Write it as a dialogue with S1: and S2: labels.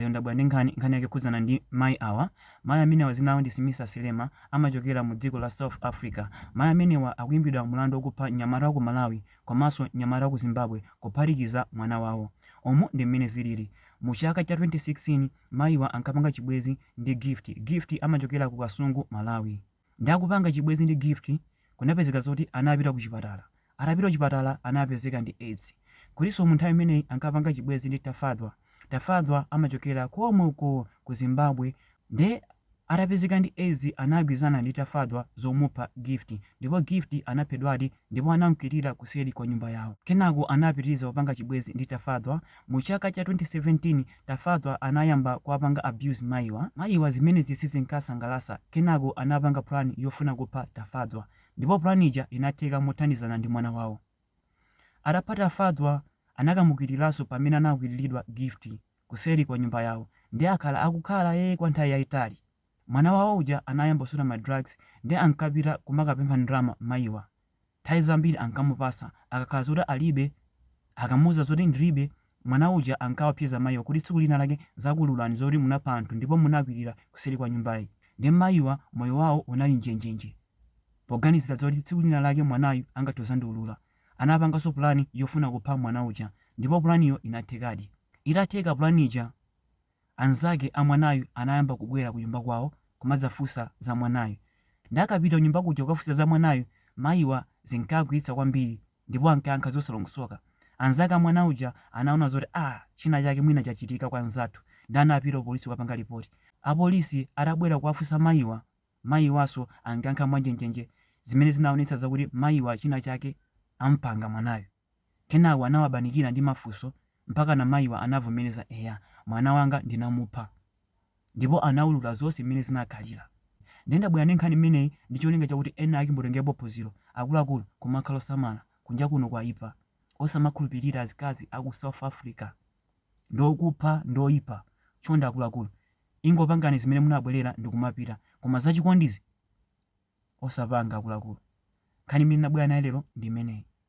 S1: Lero ndabwera ndi nkhani, nkhani yake ikukhudzana ndi mayi awa. Mayi amenewa dzina lawo ndi Smisa Silema, amachokera mu dziko la South Africa. Mayi amenewa akuimbidwa mlandu okupha mnyamata wa ku Malawi komanso mnyamata wa ku Zimbabwe kuphatikiza mwana wawo. Umu ndi mmene zilili. Mu chaka cha 2016 mayiwa ankapanga chibwezi ndi Gift. Gift amachokera ku Kasungu, Malawi. Nde akupanga chibwezi ndi Gift kunapezeka zoti anapita kuchipatala. Atapita kuchipatala anapezeka ndi aids. Kutinso mu nthawi imeneyi ankapanga chibwezi ndi Tafadzwa. Tafadzwa amachokera komwe uko ku Zimbabwe. Nde atapezeka ndi aids anagwirizana ndi Tafadzwa zomupha Gift. Ndipo Gift anaphedwadi ndipo anamkwirira kuseri kwa nyumba yawo. Kenako anapitiriza kupanga chibwezi ndi Tafadzwa. Mu chaka cha 2017, Tafadzwa anayamba kuwapanga abuse mayiwa. Mayiwa zimenezi sizinkawasangalatsa, kenako anapanga plan yofuna kupha Tafadzwa. Ndipo plan ija inatheka mothandizana ndi mwana wawo. Atapha Tafadzwa, anakamukwiriranso pamene anakwirilidwa Gift kuseri kwa nyumba yawo. Nde akhala akukhala ee kwa nthawi yayitali. Mwana wawo uja anayamba kusuta ma drugs nde ankapita kumakapempha ndalama mayiwa. Nthawi zambiri ankamupatsa akakhala zoti alibe. Akamuuza zoti ndilibe, mwana uja ankawaopseza mayiwa kuti tsiku lina lake ndzakuululani zoti munapha anthu ndipo munakwilira kuseli kwa nyumbayi. Nde mayiwa moyo wawo unali njenjenje poganizira zoti tsiku lina lake mwanayu angathe kuzandiulula. Anapanganso pulani yofuna kupha mwana uja ndipo pulaniyo inathekadi. Itatheka pulani ija Anzake a mwanayu anayamba kubwera kunyumba kwawo kumadzafunsa za mwanayu. Nde akapita kunyumba kuja kukafunsa za mwanayu, mayiwa zinkawakwiyitsa kwambiri ndipo ankayankha zosalongosoka. Anzake a mwana uja anaona zoti aah china chake mwina chachitika kwa mnzathu nde anapita ku polisi kukapanga lipoti. Apolisi atabwera kuwafunsa mayiwa, mayiwanso ankayankha mwanjenjenje zimene zinaonetsa zakuti mayiwa china chake amupanga mwanayu. Kenako anawapanikiza ndi mafunso mpakana mayiwa anavomereza eya mwana wanga ndinamupha ndipo anaulula zonse mmene zinakhalira nde ndabwera ndi nkhani imeneyi ndi cholinga chakuti ena ake mutengerepo phunziro akuluakulu kumakhala osamala kunja kuno kwaipa osamakhulupilira azikazi aku South Africa ndi okupha ndi oipa chonde akuluakulu ingopangani zimene munabwelera ndikumapita koma zachikondizi osapanga akuluakulu nkhani imene ndabwera nayo lero ndi imeneyi.